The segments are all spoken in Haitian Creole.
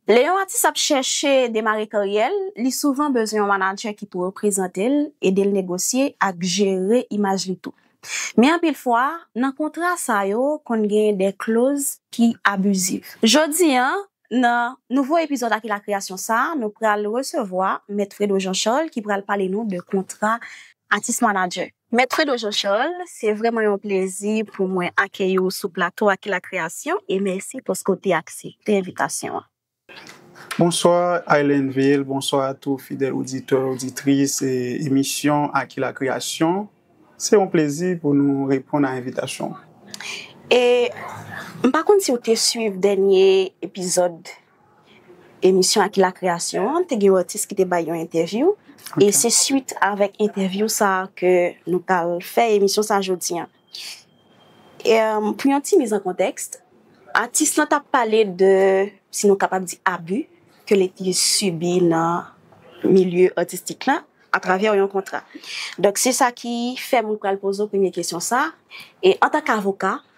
Lè yon atis ap chèche demare karyè l, li souvan bezwen yon manadjè ki pou reprezante l, ede l negosye ak jere imaj li tou. Men anpil fwa, nan kontra sa yo konn gen de kloz ki abiziv. Jodi a, nan nouvo epizòd Aki Lakreyasyon sa, nou pral resevwa Mèt Fredo Jean Charles ki pral pale nou de kontra atis-manadjè. Mèt Fredo Jean Charles, se vrèman yon plezi pou mwen akeyi w sou plato Aki La Kreyasyon e mèsi paske w te aksepte envitasyon an. Bonswa Islandville, bonswa a tou fidèl oditè, oditris emisyon Aki La Kreyasyon. Se yon plezi pou nou reponn a envitasyon w. E, m pa konn si w te swiv dènye epizòd Emisyon Aki Lakreyasyon an te gen yon atis ki te bay yon entèvyou e se swit avèk entèvyou sa a ke nou pral fè emisyon sa a jodi an. Pou yon ti miz an kontèks, atis lan t ap pale de, si nou kapab di abi, ke li te sibi nan milye atistik la atravè yon kontra. Donk se sa ki fè m pral poze w premye kesyon sa a, antank avoka,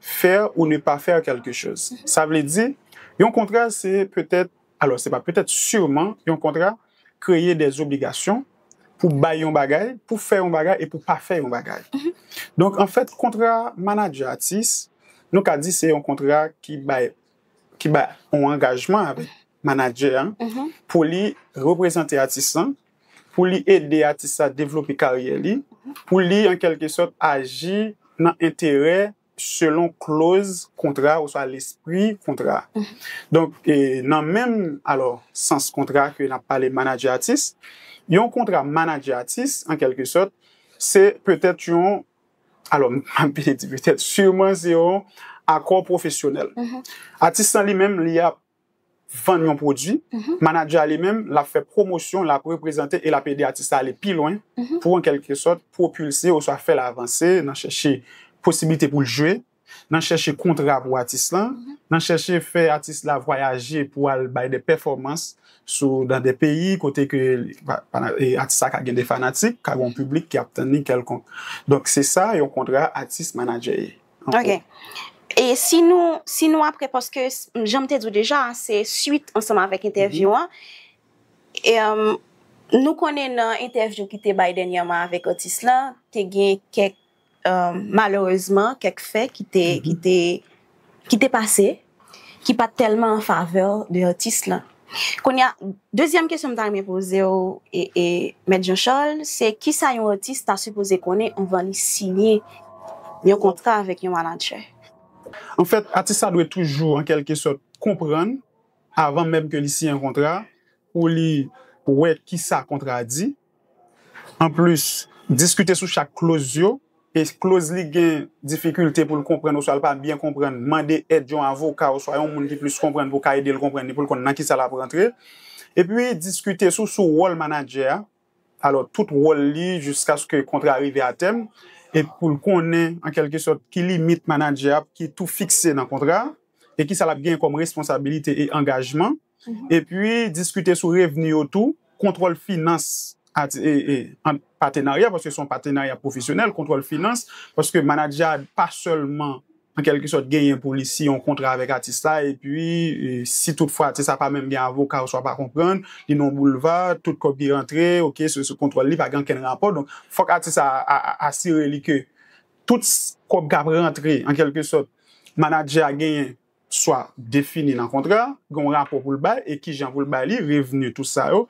Faire ou ne pas faire quelque chose. Sa vle di, yon kontra se petèt, alò se pa petèt, sûrement, yon kontra kreye des obligations pou bay yon bagay, pou fè yon bagay e pou pa fè yon bagay. Donk, an fèt, kontra manadjè-atis, nou ka di se yon kontra ki bay ki bay yon angajman avèk manadjè an pou li reprezante atis lan pou li ede atis la devlope karyè li, pou li an kèlke sòt aji nan enterè selon kloz kontra oswa lespri kontra. Donk nan menm alò sans kontra ke n ap pale manadjè atis, yon kontra manadjè atis an kèlke sòt se petèt yon, alò m pa vle di petèt, siman se yon akò pwofesyonèl. Atis lan li menm li ap vann yon pwodui, manager a li menm l ap fè pwomosyon, l ap reprezante e l ap ede atis la ale pi lwen pou an kèlke sòt pwopilse oswa fè l avanse nan chèche posiblite pou l jwe, nan chèche kontra pou atis lan, nan chèche fè atis la vwayaje pou al bay de pèfòmans sou nan de peyi kote ke atis la ka gen de fanatik, ka gen yon piblik ki ap tann li kèlkonk. Donk se sa yon kontra atis-manager ye. Ok. E si nou, si nou apre, paske janm te di ou deja, se suit ansanm avèk entèvyou an, e, nou konnen nan entèvyou ki te bay dènyèman avèk atis la, te gen kèk, malerezman, kèk fè ki te, ki te, ki te pase. ki pat tèlman an favè de atis lan. Kounye a, dezyèm kesyon m ta renmen poze w, Mèt Jean Charles, se kisa yon atis ta sipoze konnen anvan li siyen yon kontra avèk yon manadjè? Anfèt, atis la dwe toujou an kèlke sòt konprann, avan menm ke li siyen yon kontra, pou li wè kisa kontra a di, Anplis, diskite sou chak kloz yo, e si kloz li gen difikilte pou l konprann oswa l pa byen konprann, mande èd yon avoka oswa yon moun ki plis konprann pou ka ede l konprann li, pou l konn nan kisa l ap rantre. Epi, diskite sou sou wòl manadjè a, alò tout wòl li jiskaske kontra a rive a tèm, e pou l konnen an kèlke sòt ki limit manadjè a ki tou fikse nan kontra a, e kisa l ap genyen kòm responsabilite e angajman. epi diskite sou revni yo tou, kontwòl finans ant patenarya, paske se yon patenarya pwofesyonèl, kontwòl finans, paske manadjè a pa sèlman an kèlke sòt genyen pou li siyen yon kontra avèk atis la, epi si tout fwa atis la pa menm gen avoka oswa pa konprann, li nan yon boulva, tout kòb ki rantre, ok, se sou kontwòl li, pa gen okenn rapò, donk fòk atis la asire li ke tout kòb k ap rantre, an kèlke sòt, manadjè a genyen swa defini nan kontra a, gen yon rapò pou l bay e ki jan pou l bay li, revni, tout sa yo.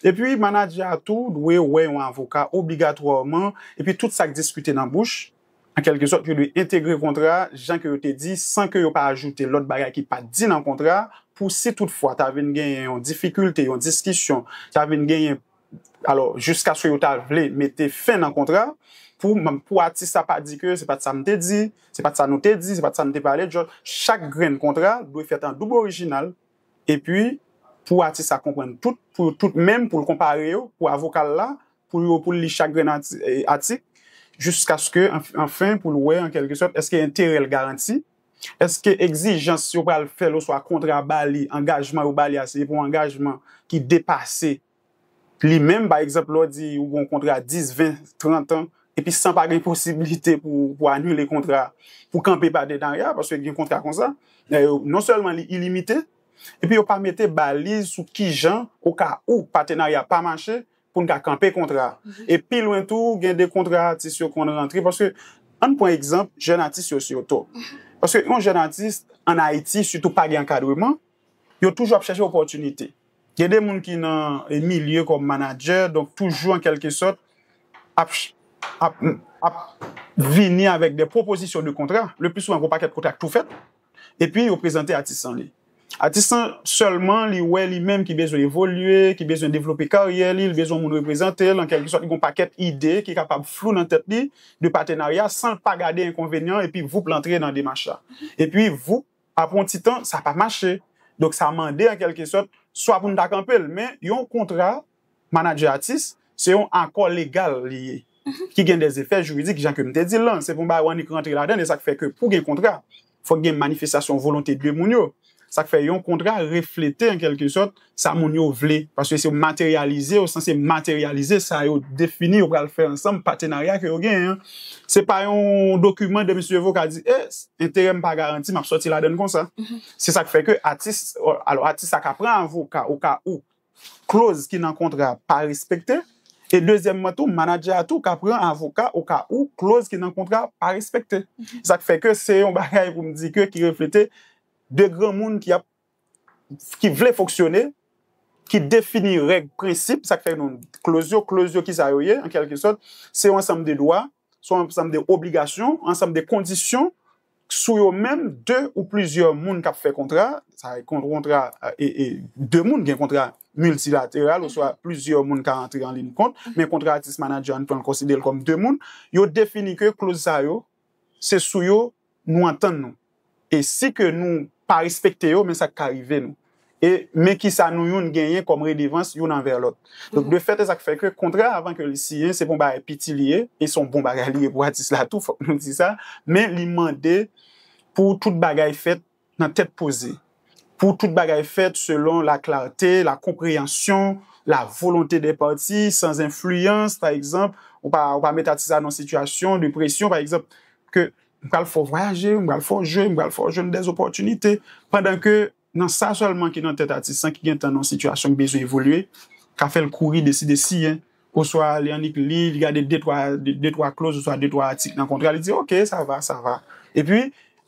Epi manadjè a tou dwe wè yon avoka obligatwaman epi tout sa k diskite nan bouch, an kèlke sòt, yo dwe entegre kontra a jan ke yo te di san ke yo pa ajoute lòt bagay ki pa t di nan kontra a pou si tout fwa ta vin genyen yon difikilte, yon diskisyon, ta vin genyen. Alò, jiskaske yo ta vle mete fen nan kontra, pou atis la pa di ke se pa t sa m te di, se pa t sa nou te di, se pa t sa nou te pale, chak grenn kontra dwe fèt an doub orijinal, epi pou atis la konprann tout, pou yo tout menm, pou l konpare yo, pou avoka l la, pou yo, pou l li chak grenn atik, jiskaske anfen pou l wè an kèlke sòt èske enterè l garanti. Èske egzijans yo pral fè l oswa kontra a ba li, angajman yo ba li a se pou angajman ki depase li menm? Pa egzanp, lè w di ou gen yon kontra 10, 20, 30 an, epi san pa gen posiblite pou ou anile kontra a, pou w kanpe patenarya, paske gen kontra konsa, non sèlman li ilimite, epi yo pa mete baliz sou kijan, okawou patenarya pa mache, pou n ka kanpe kontra a. E pi lwen tou, gen de kontra atis yo konn rantre paske, ann pran egzanp jèn atis yo sito. Paske yon jèn atis ann Ayiti sitou pa gen ankadreman, yo toujou ap chèche opòtinite. Gen de moun ki nan milye kòm manadjè, donk toujou an kèlke sòt ap ap vini avèk de pwopozisyon de kontra, le pli souvan gen yon pakèt kontra ki tou fèt, Epi yo prezante atis lan li. Atis lan sèlman li wè li menm ki bezwen evolye, ki bezwen devlope karyè li, li bezwen moun reprezante l, an kèlke sòt li gen yon pakèt ide ki kapab flou nan tèt li de patenarya san l pa gade enkonvenyan an epi voup l antre nan demach la. Epi voup, apre yon ti tan sa pa mache. Donk sa mande an kèlke sòt swa pou n ta kanpe l men yon kontra. Manager atis, se yon akò legal li ye ki gen des effets juridiques jan ke m te di l lan. Se pou m bay w annik rantre ladan l. E sa k fè ke pou gen kontra, fòk gen manifestasyon volonte de moun yo. Sa k fè yon kontra reflete an kèlke sòt sa moun yo vle. Paske se yo materyalize, yo sanse materyalize sa yo defini yo pral fè ansanm, patenarya ke yo genyen an. Se pa yon dokiman de msye Voka di, e, enterè m pa garanti, m ap sòti ladan l konsa. Se sa k fè ke atis, alò atis la ka pran avoka o ka ou kloz ki nan kontra a pa respekte, e dezyèmman tou manadjè a tou ka pran avoka oka ou kloz ki nan kontra a pa respekte. Se sa k fè ke se yon bagay pou m di ke ki reflete de granmoun ki ap ki vle fonksyone, ki defini règ, prensip, sa k fè nou kloz yo, kloz yo ki sa yo ye an kèlke sòt, se yon ansanm de dwa se yon ansanm de obligasyon, ansanm de kondisyon sou yo menm de ou plizyè moun k ap fè kontra, sa e kontra e de moun gen kontra miltilateral oswa plizyè moun ka antre an lin kont, men kontra atis-manadjè an pran konsidere l kòm de moun, yo defini ke kloz sa yo se sou yo nou antann nou e si ke nou pa respekte yo men sa ki ka rive nou e men kisa nou youn genyen kòm redevans youn anvè lòt. Donk de fèt e sa k fè ke kontra avan ke li siyen se pa yon bagay piti li ye e se yon bon bagay li ye pou atis la tou fòk nou di sa men li mande pou tout bagay fèt nan tèt poze, pou tout bagay fèt selon la klarte, la konpreyansyon, la volonte dè pati, san zenfliyans, pa egzanp, ou pa ou pa met atis la nan yon sitiyasyon de presyon, pa egzanp, ke m pral fè w vwayaje, m pral fè w jwe, m pral fè w jwenn dè opòtinite, pandan ke nan sa sèlman ki nan tèt atis lan ki gen tan nan yon sitiyasyon ki bezwen evolye, ka fè l kouri deside siyen. Oswa li annik li, li gade de twa, de twa kloz oswa de twa atik nan kontra, li di ok, sa va, sa va. E pi,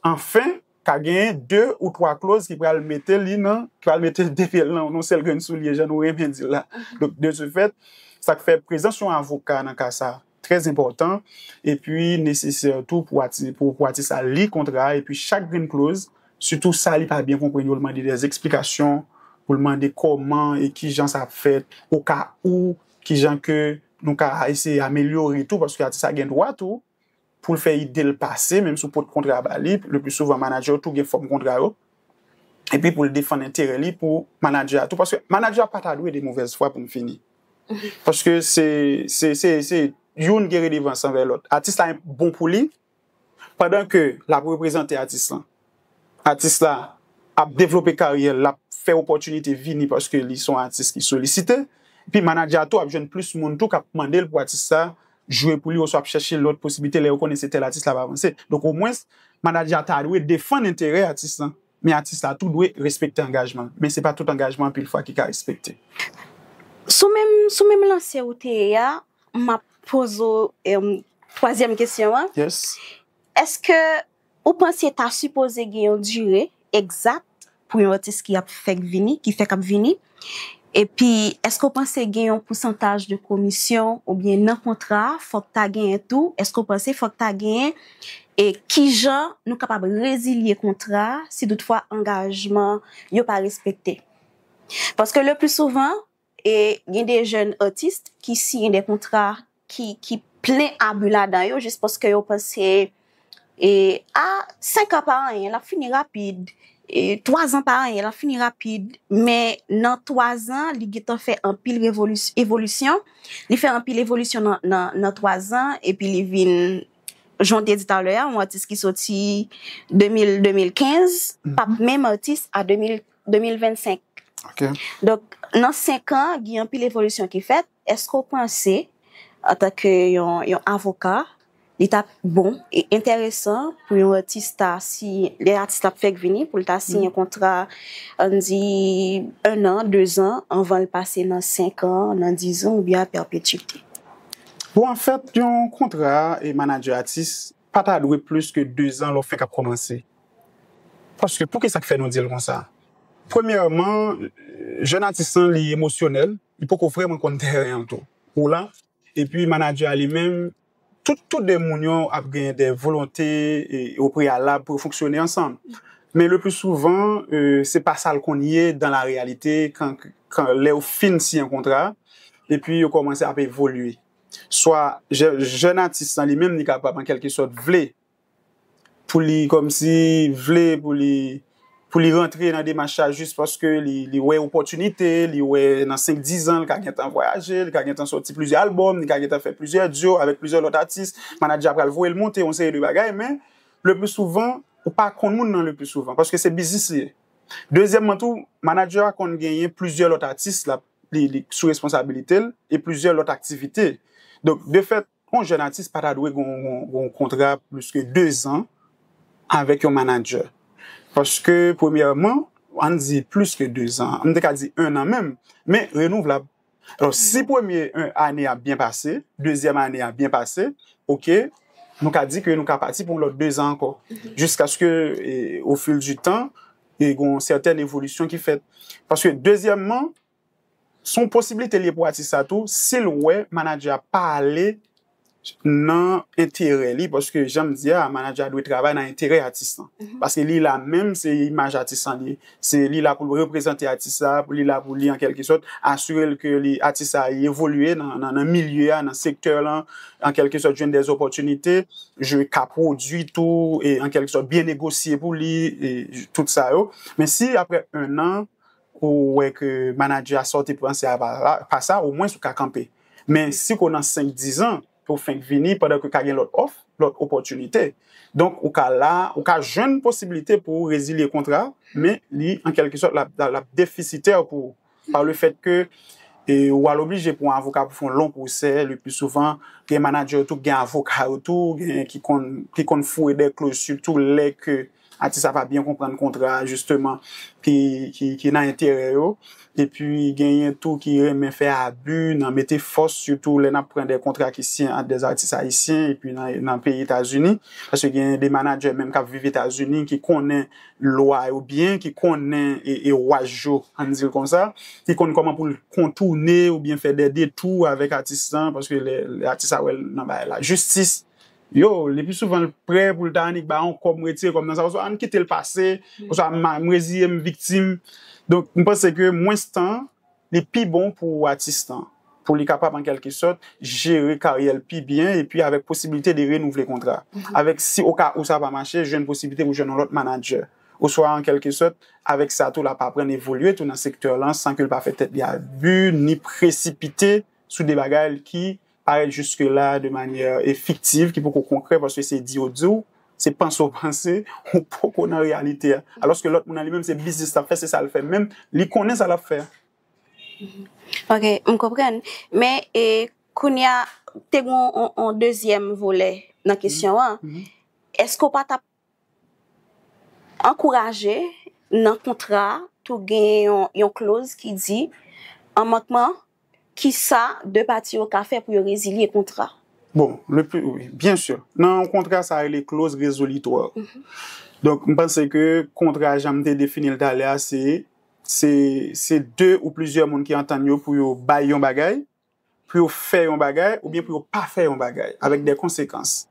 anfen, ka genyen de ou twa kloz ki pral mete li nan, ki pral mete l depi l nan yon sèl grenn soulye jan nou renmen di l la. Donk, de se fèt, sa k fè prezans yon avoka nan ka sa a trè enpòtan e pi nesesè tou pou atis la li kontra a e pi chak grenn kloz Sitou sa li pa byen konprann yo l mande dè esplikasyon pou l mande kòman e kijan sa ap fèt o ka ou kijan ke nou ka eseye amelyore tou paske atis la gen dwa tou pou l fè ide l pase menm si w pot kontra a ba li le pli souvan manadjè yo tou gen fòm kontra yo epi pou l defann enterè li pou manadjè a tou paske manadjè a pa ta dwe de movèz fwa pou m fini paske se se se youn gen redevans anvè lòt atis la bon pou li. Pandan ke lap reprezante atis lan, atis la ap devlope karyè l, lap fè opòtinite vini paske li son atis ki solisite, epi manadjè a tou ap jwenn plis moun tou kap mande l pou atis sa jwe pou li oswa ap chèche lòt posiblite lè yo konnen se tèl atis lap avanse. Donk omwens manadjè a ta dwe defann enterè atis lan Men atis la tou dwe respekte angajman l. Men se pa tout angajman anpil fwa ki ka respekte. Sou menm sou menm lanse ou te ye a, m ap poze w twazyèm kesyon an. Yes. Èske ou panse ta sipoze gen yon dire egzat pou yon atis ki ap fèk vini, ki fèk ap vini? Epi èske w panse gen yon pousantaj de komisyon oubyen nan kontra a fòk ta genyen tou, èske w panse fòk ta genyen e kijan nou kapab rezilye kontra a si tout fwa angajman yo pa respekte? Paske le pli souvan e gen de jèn atis ki siyen de kontra ki plen abi ladan yo jis paske yo panse e a 5 an pa anyen lap fini rapid e 3 an pa anyen lap fini rapid men nan 3 an li gentan fè anpil evolisyon li fè anpil evolisyon nan 3 an epi li vin jan w te di talè a yon atis ki soti 2000 2015 pap menm atis a 2000 2025 donk nan 5 an gen anpil evolisyon ki fèt Èske w panse, antanke yon avoka, li t ap bon e enteresan pou yon atis ta siyen, lè atis la ap fèk vini, pou l ta siyen kontra, ann di, ennan, dezan, anvan l pase nan senkan, nan dizan oubyen a pèpetuite? Bon, anfèt, yon kontra manadjè-atis Pa ta dwe plis ke dezan lè w fèk ap kòmanse. Paske pou kisa k fè nou di l konsa? Premyèman, jèn atis lan li emosyonèl, li poko vrèman konn tèren an tou. Ou la? Epi manadjè a li menm, tout tou de moun yo ap gen de volonte o preyalab pou yo fonksyone ansanm. Men le pli souvan, se pa sa l konn ye dan la reyalite kan lè yo fin siyen kontra epi yo kòmanse ap evolye. swa jèn atis lan li menm li kapab an kèlke sòt vle pou li kòmsi vle pou li pou li rantre nan demach sa jis paske li wè opòtinite, li wè nan senk dizan li ka gentan vwayaje, li ka gentan sòti plizyè albòm, li ka gentan fè plizyè dyo avèk plizyè lòt atis, manadjè a pral voye l monte yon seri de bagay men le pli souvan ou pa konn moun nan le pli souvan paske se biznis li ye. Dezyèmman tou manadjè a konn genyen plizyè lòt atis l ap li sou responsabilite l e plizyè lòt aktivite. Donk, de fèt, yon jèn atis pa ta dwe gen yon kontra plis ke dezan avèk yon manadjè. Paske, premyèman, ann di plis ke dezan, m te ka di ennan menm, men renouvlab. Alò, si premye ane a byen pase, dezyèm ane a byen pase, oke, nou ka di ke nou ka pati pou yon lòt dezan ankò. Jiskaske, ofil di tan, e gen yon sèten evolisyon ki fèt. Paske dezyèmman, se yon posiblite li ye pou atis la tou, si l wè manadjè a pa ale nan enterè li, paske jan m di a, manadjè a dwe travay nan enterè atis lan. Paske li la menm, se imaj atis lan li, se li la pou l reprezante atis la, li la pou li an kèlke sòt asire l ke atis la evolye nan milye a, nan sektè lan. an kèlke sòt jwenn dè zòpòtinite, jwe ka pwodui tou e an kèlke sòt byen negosye pou li e tout sa yo. Men si aprè 1 an ou wè ke manadjè a sa w te panse a pa la, pa sa, omwens ou ka kanpe. Men si ke w nan 5, 10 an ke w fenk vini pandan ke ka gen lòt òf, lòt opòtinite. Donk ou ka la, ou ka jwenn posibilite pou w rezilye kontra, men li an kèlke sòt l ap, l ap defisitè pou ou. Par le fait que ou al oblije pou yon avoka pou fè yon long pwosè, le plus souvent, gen manager yo tou ki gen avoka yo tou, gen ki konn ki konn foure dè kloz sitou lè ke atis la pa byen konprann kontra a jisteman ki ki nan enterè yo. Epi genyen tou ki renmen fè abi nan mete fòs sitou lè n ap pran dè kontra ki siyen ant dè atis ayisyen epi nan nan peyi Etazini paske genyen de manager menm k ap viv Etazini ki konnen lwa yo byen, ki konnen e waj yo ann di l konsa, ki konn kòman pou l kontoune oubyen fè dè detou avèk atis lan paske lè atis la wè l nan bagay lajistis yo lepi souvan l prè pou l ta annik bay yon kòb m retire kòm nan sa oswa m kite l pase oswa m reziye m viktim donk m panse ke mwens tan Li pi bon pou atis lan, pou li kapab an kèlke sòt jere karyè l pi byen epi avèk posiblite de renouvle kontra avèk si o ka ou sa pa mache jwenn posiblite pou jwenn yon lòt manadjè oswa an kèlke sòt avèk sa tou l ap aprann evolye tou nan sektè lan san ke l pa fè tèt li abi ni presipite sou de bagay ki parèt jiske la de manyè e fiktiv ki poko konkrè paske se di yo di w, se panse w panse, ou poko nan reyalite a. Alòske lòt moun nan li menm se biznis l ap fè, se sa l fè menm, li konnen sa l ap fè a. Ok, m konprann. Men e kounye a, te gen yon dezyèm volè nan kesyon an. Èske w pa t ap Ankouraje, Nan kontra a tou gen yon kloz ki di, an mankman, kisa de pati yo ka fè pou yo rezilye kontra. Bon, le pli, wi, byen si. Nan yon kontra sa rele kloz rezolitwa. Donk, m panse ke kontra jan m te defini l talè a se se de ou plizyè moun ki antann yo pou yo bay yon bagay, pou yo fè yon bagay oubyen pou yo pa fè yon bagay avèk dè konsekans.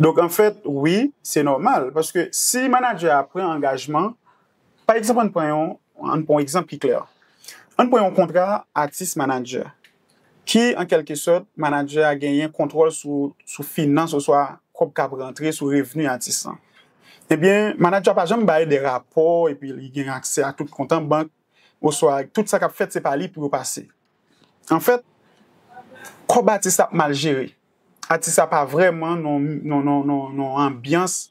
Donk anfèt wi, se nòmal paske si manadjè a pran angajman, pa egzanp ann pran yon, ann pran yon egzanp ki klè. Ann pran yon kontra atis-manadjè ki an kèlke sòt manadjè a genyen kontwòl sou finans oswa kòb k ap rantre sou revni atis lan. Ebyen manadjè a pa janm bay dè rapò epi li gen aksè a tout kont an bank oswa tout sa k ap fèt se pa li pou yo pase. Anfèt, kòb atis la ap mal jere. Atis la pa vrèman nan yon anbyans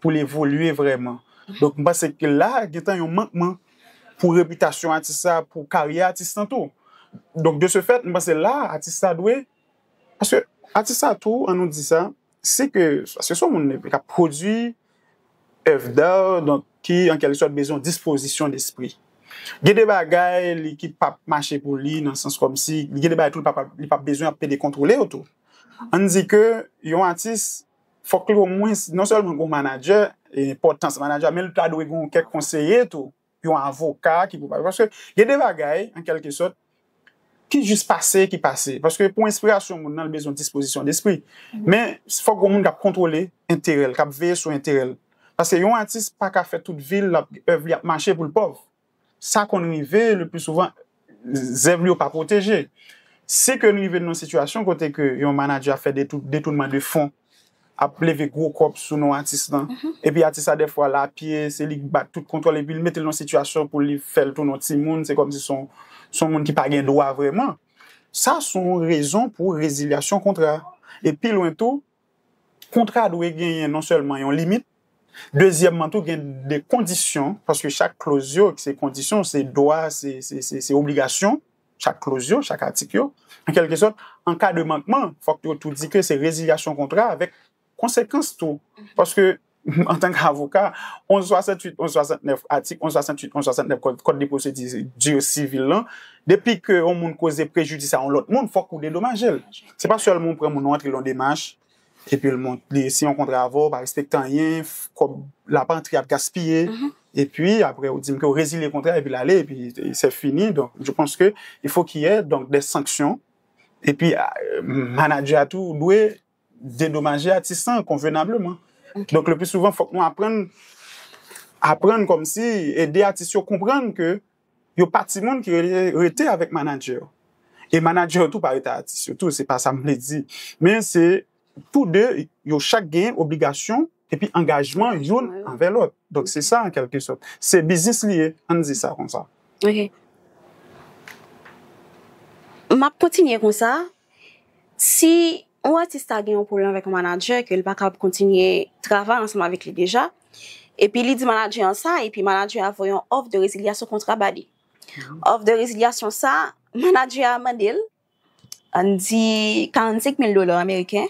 pou l evolye vrèman. Donk, m panse ke la gentan yon mankman pou repitasyon atis la, pou karyè atis lan tou. Donk, de se fèt, m panse la atis la dwe, paske atis la tou, an nou di sa, Se ke, paske son moun ki ap pwodui èv dar, donk ki an kèlk sòt bezwen yon dispozisyon despri. Gen de bagay li ki pap mache pou li nan sans kòmsi, gen de bagay tou li pap bezwen ap pede kontwole yo tou. Ann di ke yon atis fòk li omwens non sèlman gen yon manadjè, enpòtans manadjè a, men li ta dwe gen kèk konseye tou. yon avoka ki pou pale. Paske gen de bagay, an kelke sòt, ki jis pase, ki pase. Paske pou enspirasyon moun nan, li bezwen dispozisyon despri. Men, fòk gen yon moun k ap kontwole enterè l, k ap veye sou enterè l. Paske yon atis pa ka fè tout vi l, èv li ap mache pou l pòv. Sa konn rive, leplisouvan, zèv li yo pa pwoteje. Si ke n rive nan yon sitiyasyon kote ke yon manadjè ap fè detounman de fon, ap leve gwo kòb sou non atis lan, epi atis la dèfwa l apye, se li k bat tout kontwòl epi l mete l nan yon sitiyasyon pou li fè l tounen yon timoun, se kòmsi se yon moun ki pa gen dwa vrèman, sa se yon rezon pou rezilyasyon kontra. E pi lwen tou, Kontra dwe genyen non sèlman yon limit, dezyèmman tou gen de kondisyon, paske chak kloz yo ki se kondisyon, se dwa, se obligasyon, chak kloz yo, chak atik yo, an kèlke sòt, an ka de mankman, fòk yo tou di ke se rezilyasyon kontra avèk konsekans tou, paske antank avoka, 1168, 1169, atik 1168, 1169 kòd de pwosedi di sivil lan, depi ke yon moun koze prejidis a yon lòt moun, fòk ou dedomaje l. Se pa sèlman ou pran moun ou antre l yon demach, epi l mont, li siyen yon kontra avè w, pa respekte anyen, kòb l ap antre ap gaspiye, epi apre ou di m ke ou rezilye kontra epi l ale, epi se fini. Donk, je panse ke il fo ki yè donk dè sanksyon, epi manadjè a tou dwe dedomaje atis lan konvenableman. Donk le pli souvan fòk nou aprann, aprann kòm si ede atis yo konprann ke yo pa timoun ki rele rete avèk manadjè yo. E manadjè yo tou pa rete avèk atis yo tou, se pa sa m vle di. Men se tou de, yo chak gen obligasyon epi angajman youn anvè lòt. Donk se sa an kèlke sòt. Se biznis li ye, an n di sa konsa. Ok. M ap kontinye konsa Si yon atis ta gen yon pwoblèm avèk yon manadjè ke li pa kab kontinye travay ansanm avèk li deja, epi li di manadjè an sa, epi manadjè a voye yon òf de rezilyasyon kontra ba li. Òf de rezilyasyon sa, manadjè a mande l, ann di 45 mil dola ameriken,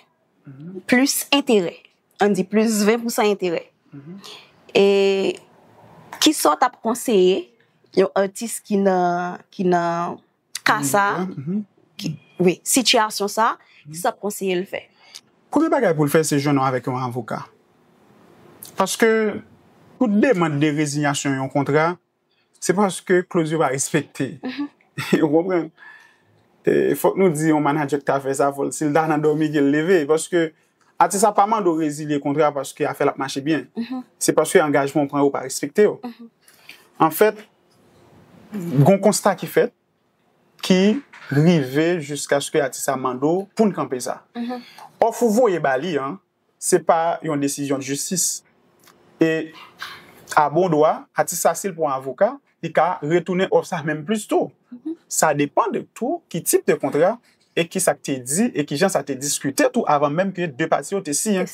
plis enterè, ann di plis 20 pousan enterè. E, kisa w t ap konseye yon atis ki nan, ki nan. ka sa, wi, sitiyasyon sa, ki sa w ap konseye l fè? Premye bagay pou l fè se jwenn avèk yon avoka. Paske tout demand de rezinyasyon yon kontra, se paske kloz yo pa respekte. Ou konprann? Fòk nou di yon manadjè ki ta fè sa, fò l si l ta nan dòmi ke l leve. Paske atis la pa mande w rezilye kontra paske afè l ap mache byen. Se paske angajman ou pran yo pa respekte yo. Anfèt. Gon konsta ki fèt ki rive jiskaske atis la mande w pou n kanpe sa. Òf ou voye ba li an, se pa yon desizyon jistis. E a bon dwa, atis la si l pran avoka, li ka retounen òf sa menm plis tou. Sa depan de tou ki tip de kontra e ki sa k te di e ki jan sa te diskite tou avan menm ke de pati yo te siyen.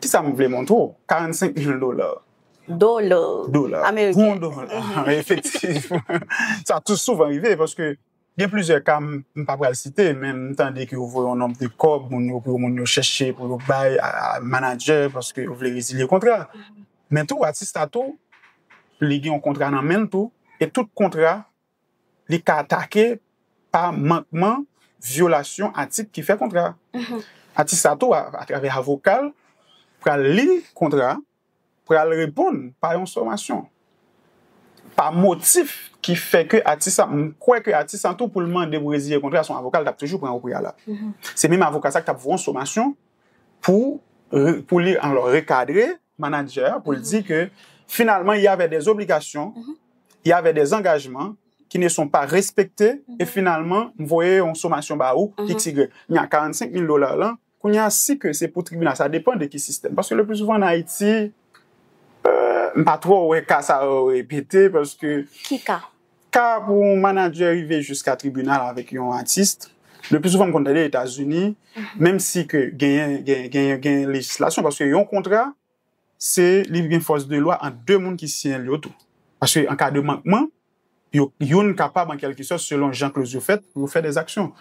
Ki sa m vle montre w, 45 mil dola. Dola. Dola. Ameriken. Yon dola. Efektivman. Sa tou souvan rive paske gen plizyè ka m pa pral site men m tande ke yo voye yon nonb de kòb moun yo pou moun yo chèche pou yo bay manadjè paske yo vle rezilye kontra. Men tou atis la tou li gen yon kontra nan men l tou e tout kontra li ka atake pa mankman vyolasyon atik ki fè kontra. Atis la tou atravè avoka l pral li kontra. pral reponn pa yon somasyon, pa motif ki fè ke atis sa, m kwè ke atis sa tou pou l mande pou reziye kontra se yon avoka l t ap toujou pran o preyalab. Se menm avoka sa k t ap voye yon somasyon pou li alò rekadre manadjè a pou l di ke finalman il y avè dè zobligasyon, il y avè dè zangajman ki ne son pa respekte e finalman m voye yon somasyon ba ou, iks, igrèk. Men a 45 mil dola lan. Kounye a si ke se pou tribinal sa depan de ki sistèm paske le pli souvan an Ayiti m pa twò wè ka sa yo repete paske Ki ka? Ka pou yon manadjè rive jiska tribinal avèk yon atis le pli souvan m konn tande Etazini menm si ke genyen genyen genyen lejislasyon paske yon kontra se li gen fòs de lwa ant 2 moun ki siyen l yo tou. Paske an ka de mankman, yo youn kapab an kèlke sòt selon jan kloz yo fèt pou yo fè dè aksyon.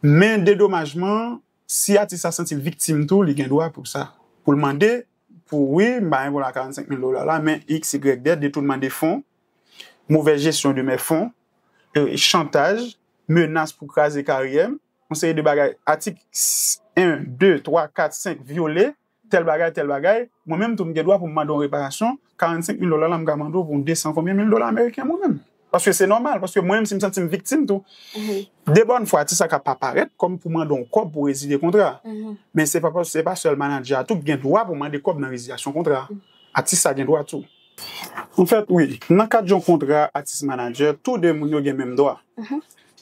Men dedomajman, si atis la santi l viktim tou, li gen dwa pou sa. Pou l mande pou wi, m ba Engola 45 mil dola la, men XYZ, detounman de fon, movèz jesyon de mè fon, chantaj, menas pou kraze karyè m, yon seri de bagay atik 1, 2, 3, 4, 5 vyole Tèl bagay, tèl bagay, mwen menm tou m gen dwa pou m mande yon reparasyon, 45 mil dola la m ka mande w pou yon 200 konbyen mil dola ameriken mwen menm. Paske se nòmal, paske mwen menm si m santi m viktim tou, de bòn fwa ti sa ka pa parèt kòm pou mande yon kòb pou rezilye kontra a. Men se pa sèl manadjè a tou ki gen dwa pou mande kòb nan rezilyasyon kontra a. Atis la gen dwa tou. An fèt, wi. Nan kad yon kontra atis-manadjè, tou de moun yo gen menm dwa.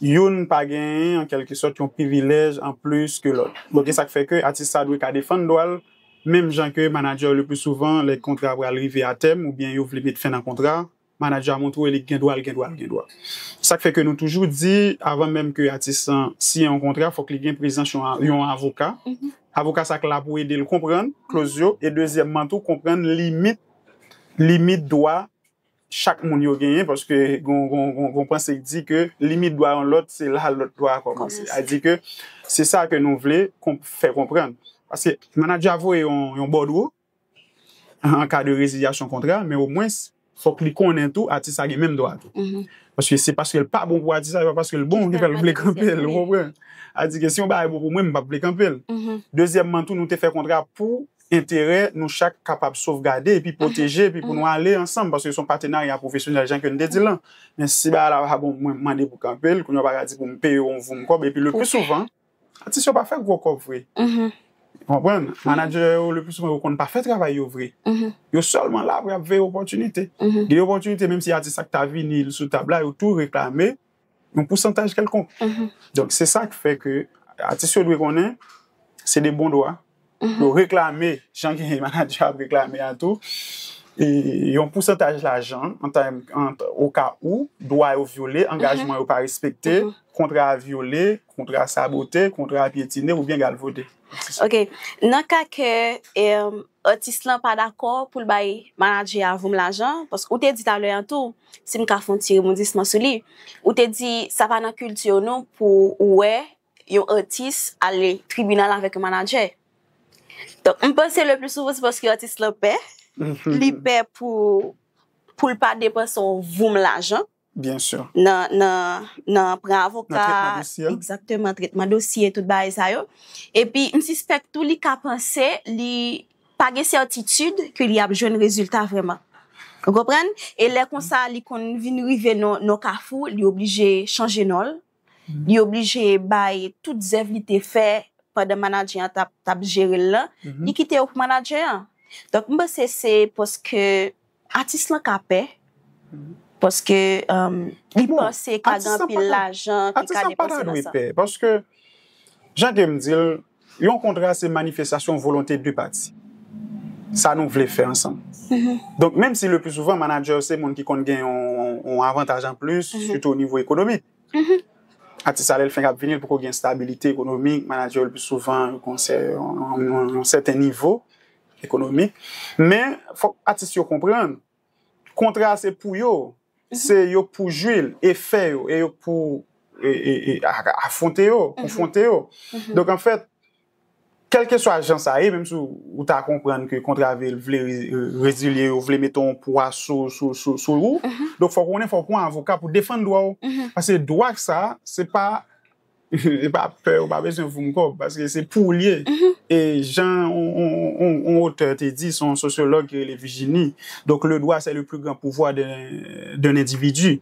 Youn pa genyen, an kèlke sòt, yon privilèj an plis ke lòt. Donk, e sa k fè ke atis sa dwe ka defann dwa l, menm jan ke manadjè yo lepli souvan, lè kontra a pral rive atèm oubyen yo vle met fen nan kontra a, manadjè a montre w e li gen dwa l gen dwa l gen dwa. Se sa k fè ke nou toujou di, avan menm ke atis lan siyen yon kontra, fòk li gen prezans yon yon avoka. Avoka sa k la pou ede l konprann kloz yo e dezyèmman tou konprann limit. limit dwa chak moun yo genyen paske gon panse ki di ke limit dwa yon lòt se la lòt dwa a kòmanse. A di ke se sa ke nou vle fè konprann. Paske manager a voye yon bòdwo an ka de rezilyasyon kontra men o mwens fòk li konnen tou atis la gen menm dwa tou. Paske se paske l pa bon pou atis la se pa paske l bon ki fè l vle kanpe l ou konprann. A di ke si yon bagay bon pou mwen m pap vle kanpe l. Dezyèmman tou nou te fè kontra pou enterè nou chak kapab sovgade epi pwoteje epi pou nou ale ansanm paske se yon patenarya pwofesyonèl jan ke n te di l lan. Men si bagay la pa bon mwen mande pou kanpe l, kounye w pa ka di pou m peye w yon voum kòb epi le pli souvan atis yo pa fè gwo kòb vre. Ou konprann? Manadjè yo le pli souvan yo konn pa fè travay yo vre. Yo sèlman la pou y ap veye opòtinite. Gen opòtinite menm si atis la ki ta vini l sou tab la yo tou reklame. yon pousantaj kèlkonk. Donk se sa k fè ke atis yo dwe konnen se de bon dwa pou yo reklame, jan ke manadjè a ap reklame a tou, yon pousantaj lajan o ka ou dwa yo vyole, angajman yo pa respekte, kontra a vyole, kontra a sabote, kontra a pyetine oubyen galvode. Ok. Nan ka ke atis lan pa dakò pou l bay manadjè a voum lajan, paske ou te di talè an tou, Si m ka fè yon ti rebondisman sou li, ou te di sa pa nan kilti w non pou ou wè yon atis ale tribinal avèk yon manadjè. Donk m panse le pli souvan se paske atis lan pè, li pè pou l pa depanse yon voum lajan nan pran avoka, nan tretman dosye, tout bagay sa yo. Epi m sispèk tou li ka panse li. Pa gen sètitid ke li ap jwenn rezilta vrèman. Ou konprann? E lè konsa li konn vin rive nan yon kafou, li oblije chanje non l, li oblije bay tout zèv li te fè pandan manadjè an t ap jere l lan, li kite yo pou manadjè an. Donk, m panse se paske Atis lan ka pè, paske li panse ka gen anpil lajan ki ka depanse nan sa. Atis lan pa ta dwe pè, paske jan ke m di l, yon kontra se manifestasyon volonte 2 pati. Sa nou vle fè ansanm. Donk menm si le pli souvan manadjè yo se moun ki konn gen yon avantaj an plis, sitou o nivo ekonomik. Atis la lè l fenk ap vini l poko gen stabilite ekonomik, manadjè yo le pli souvan yo konseye yon sèten nivo Ekonomi. Men, fòk atis yo konprann, kontra a se pou yo. Se yo k pou jwi l, e fè yo, e yo k pou afwonte yo, konfwonte yo. Donk anfèt, kèlkeswa jan sa ye, menm si ou ta konprann ke kontra vil vle rezilye yo, vle mete yon pwa sou ou, donk fòk ou konnen fòk ou pran avoka pou defann dwa ou. Paske dwa sa, se pa. Li pa pè ou pa bezwen voum kob paske se pou li ye e jan yon otè te di se yon sosyològ ki rele Vijini donk le dwa se le pli gran pouvwa de n endividi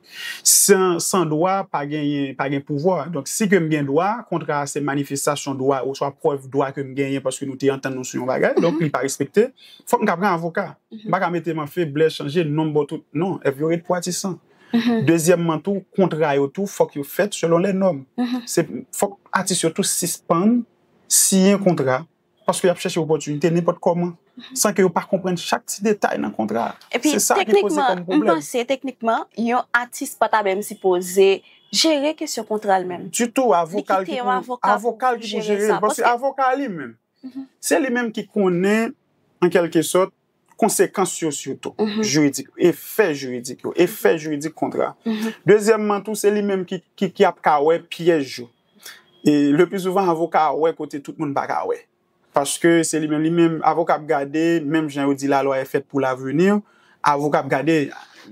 san dwa pa gen pouvwa donk si ke m gen dwa kontra a se manifestasyon dwa ou swa prèv dwa ke m genyen paske nou te antann nou sou yon bagay donk li pa respekte fòk m ta pran avoka m pa ka mete m an feblè chanje non m ba w tout non èv yo ret pou atisan. Dezyèmman tou, kontra yo tou fòk yo fèt selon lè nòm. Se fòk atis yo tou sispann siyen kontra paske y ap chèche opòtinite nenpòt kòman san ke yo pa konprann chak ti detay nan kontra a. Se sa ki poze kòm pwoblèm. Epi teknikman, m panse teknikman, yon atis pa ta menm sipoze jere kesyon kontra l menm. Ditou, avoka l ki pou jere l. Paske avoka a li menm, se li menm ki konnen an kèlke sòt konsekans yo sitou, jiridik, efè jiridik yo, efè jiridik kontra. Dezyèmman tou, se li menm ki ap ka wè pyèj yo. E le pli souvan avoka a wè kote tout moun pa ka wè. Paske se li menm, li menm, avoka ap gade, menm jan yo di la lwa e fèt pou lavenir, avoka ap gade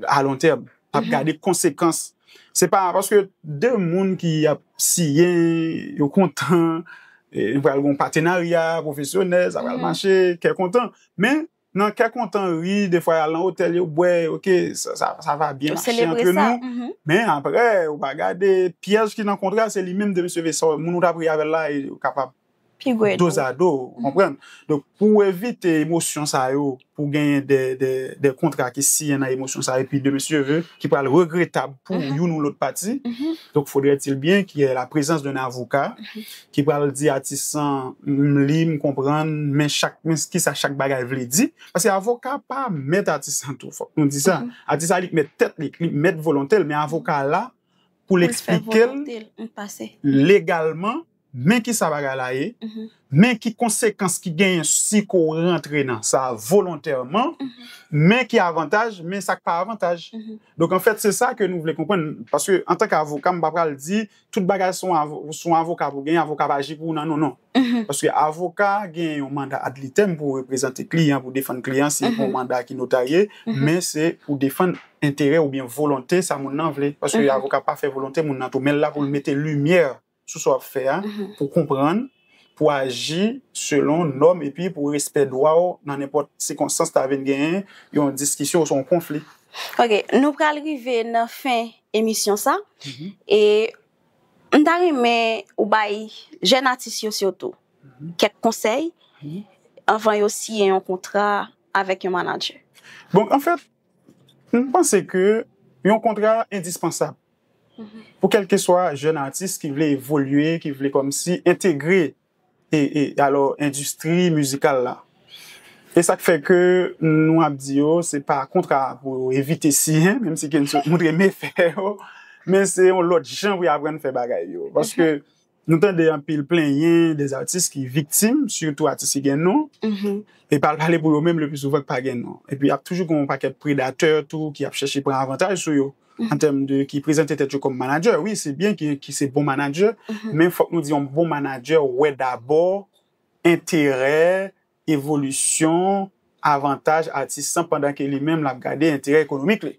alontèm. ap gade konsekans se pa paske 2 moun ki ap siyen yo kontan nou pral gen yon patenarya pwofesyonèl sa pral mache kè kontan men nan kè kontan wi defwa y al nan otèl yo bwè ok sa va byen mache antre nou men aprè ou pa gade pyèj ki nan kontra se li menm de mesye Vincent moun ou t ap ri avè l la e kapab Pi gwo edmi. Dozado, ou konprann? Donk, pou ou evite emosyon sa yo, pou genyen de kontra ki siyen nan emosyon sa yo, epi de mesye ki pral regretab pou youn ou lòt pati, donk fodrètil byen ki yè la prezans de avoka ki pral di atis lan, m li, m konprann, men chak, men ki sa chak bagay vle di. Paske avoka pa mèt atis lan tou, fòk nou di sa. Atis la li k mèt tèt li, li k mèt volonte l, men avoka la pou l eksplike l legalman. Men ki sa bagay la ye, men ki konsekans ki genyen si ke w rantre nan sa volontèman, men ki avantaj, men sa k pa avantaj. Donk anfèt se sa ke nou vle konprann, paske antanke avoka m pa pral di tout bagay se yon avoka pou genyen, avoka ap aji pou ou nan non, non. Paske avoka genyen yon manda adlitem pou reprezante kliyan, pou defann kliyan si pou yon manda ki notarye, men se pou defann enterè oubyen volonte sa moun nan vle, paske avoka pa fè volonte moun nan tou, men l la pou l mete limyè sou sa w ap fè a, pou konprann, pou aji selon nòm epi pou respè dwa w nan nenpòt sikonstans ta vin gen yon diskisyon oswa yon konfli. Ok, nou pral rive nan fen emisyon sa, e m ta renmen ou bay jèn atis yo sitou kèk konsèy anvan yo siyen yon kontra avèk yon manadjè. Bon, anfèt, m panse ke yon kontra endispansab. Pou kèlkeswa jèn atis ki vle evolye, ki vle kòmsi entegre alò endistri mizikal la. E sa k fè ke nou ap di yo se pa kontra pou yo evite siyen, menm si Kenzo montre mefè yo, men se yon lòt jan pou yo aprann fè bagay yo. Paske Nou tande anpil plenyen de atis ki viktim, sitou atis ki gen non, e pa al pale pou yo menm le pli souvan ki pa gen non. E pi ap toujou gen yon pakèt predatè tou ki ap chèche pran avantaj sou yo, an tèm de ki prezante tèt yo kòm manadjè. Wi, se byen ki se bon manadjè, men fòk nou di yon bon manadjè wè dabò enterè evolisyon avantaj atis lan pandan ke li menm l ap gade enterè ekonomik li.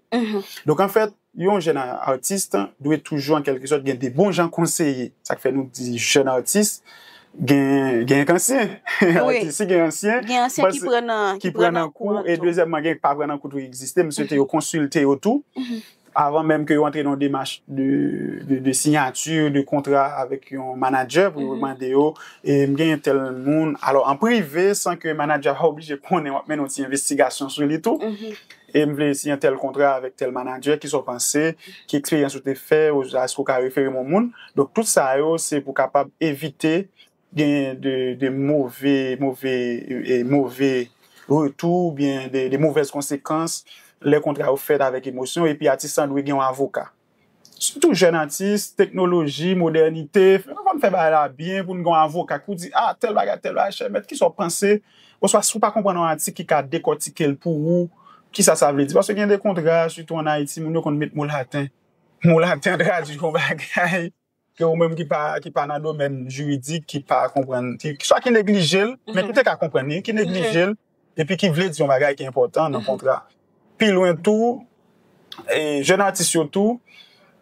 Donk anfèt, yon jèn atis dwe toujou an kèlke sòt gen de bon jan konseye. Sa k fè nou di jèn atis gen ansyen. Si gen ansyen, ki pran nan kou e dezyèmman gen k pa pran nan kou tou egziste. M swete yo konsilte yo tou. avan menm ke yo antre nan yon demach de sinyati de kontra avèk yon manadjè pou yo mande yo m genyen tèl moun, alò an prive san ke manadjè a pa oblije konnen w ap mennen yon ti envestigasyon sou li tou e m vle siyen tèl kontra avèk tèl manadjè kisa w panse, ki eksperyans ou te fè oswa èske ou ka refere m yon moun, donk tout sa yo se pou kapab evite. gen de move move move retou ou byen de movèz konsekans lè kontra yo fèt avèk emosyon epi atis lan dwe gen yon avoka sitou jèn atis teknoloji modènite fè nou konn fè bagay la byen pou n gen yon avoka ki pou di a tèl bagay tèl bagay chè mèt kisa ou panse oswa si ou pa konprann yon atik ki ka dekòtike l pou ou kisa sa vle di paske gen de kontra sitou an ayiti moun yo konn met mo laten mo laten tradui yon bagay. ke ou menm ki pa ki pa nan domèn jiridik ki pa konprann ki swa ki neglije l men ki te ka konprann li ki neglije l epi ki vle di yon bagay ki enpòtan nan kontra pi lwen tou e jèn atis yo tou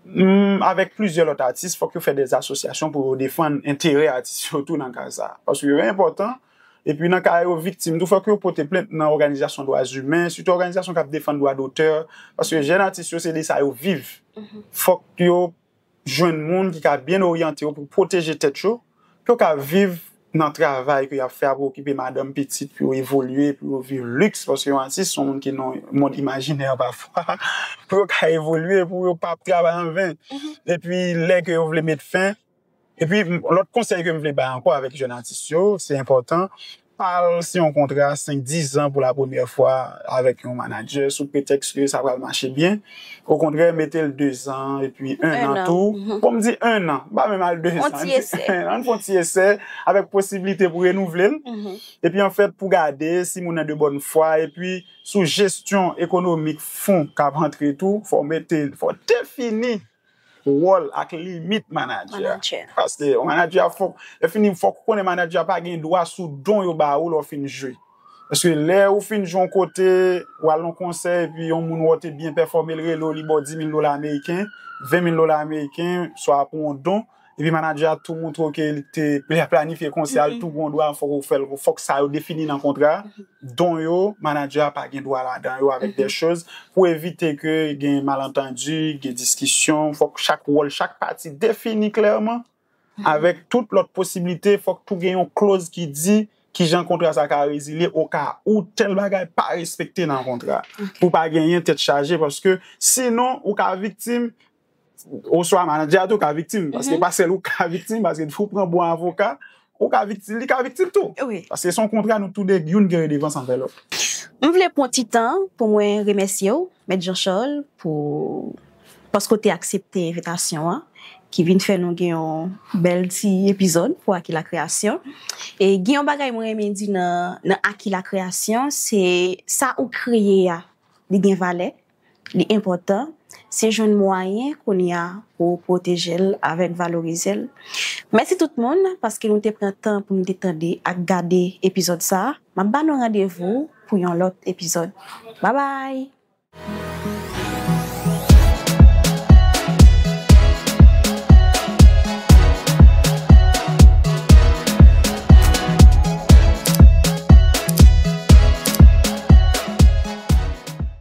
m avèk plizyè lòt atis fòk yo fè de asosyasyon pou yo defann enterè atis yo tou nan ka sa paske yo enpòtan epi nan ka yo viktim tou fòk yo pote plent nan òganizasyon dwa zimen sitou òganizasyon k ap defann dwa dotè paske jèn atis yo se de sa yo viv fòk yo jwenn moun ki ka byen oryante yo pou pwoteje tèt yo, pou yo ka viv nan travay ke y ap fè a, pou yo okipe madanm, pitit, pou yo evolye, pou yo viv liks, paske yon atis se yon moun ki nan mond imajinè pafwa, pou yo ka evolye, pou yo pa ap travay an ven. Epi lè ke yo vle met fen, epi lòt konsèy ke m vle bay ankò avèk jèn atis yo, se enpòtan pa al siyen yon kontra 5, 10 zan pou la premyè fwa avèk yon manadjè sou pretèks ke sa pral mache byen. Okontrè, mete l 2 zan epi 1 an tou. Bon, m di 1 an, m pa menm al 2 zan. An ti esè. An fè yon ti esè avèk posiblite pou renouvle l. Epi anfèt pou gade si moun nan de bòn fwa. Epi sou jesyon ekonomik fon k ap antre tou, fò w mete, fò w defini Wòl ak limit manadjè. Paske yon manadjè a fòk, lè fini fòk ou konnen manadjè a pa gen dwa sou don yo ba ou lè ou fin jwe. Paske lè ou fin jwe yon kote, ou al nan yon konsè epi yon moun wè ou te byen pèfòme, li rele ou li ba w dimil dola ameriken, venmil dola ameriken, swa pou yon don. Epi manager a tou montre w ke li te planifye konsè a, li tou gon dwa fòk ou fèl, fòk sa yo defini nan kontra a. Don yo, manager a pa gen dwa ladan yo avèk dè choz pou evite ke gen malantandi, gen diskisyon, fòk chak wòl chak pati defini klèman avèk tout lòt posiblite, fòk tou gen yon kloz ki di kijan kontra sa ka rezilye o ka ou tèl bagay pa respekte nan kontra a. Pou pa genyen tèt chaje paske sinon ou ka viktim. Oswa manager a tou ka viktim, paske pa sèl ou ka viktim, paske depi ou pran bon avoka, ou ka viktim, li ka viktim tou. Wi. Paske son kontra nou tou 2, youn gen redevans anvè lòt. M vle pran ti tan pou mwen remèsye w, Mèt Jean Charles, pou paske w te aksepte envitasyon an, ki vin fè nou gen yon bèl ti epizòd pou Aki La Kreyasyon. E gen yon bagay mwen renmen di nan Aki La Kreyasyon, se sa ou kreye a, li gen valè, Li enpòtan, se jwenn mwayen kounye a pou ou pwoteje l avèk valorize l. Mèsi tout moun paske nou te pran tan pou nou te tande ak gade epizòd sa. M ap ba nou randevou pou yon lòt epizòd. Babay!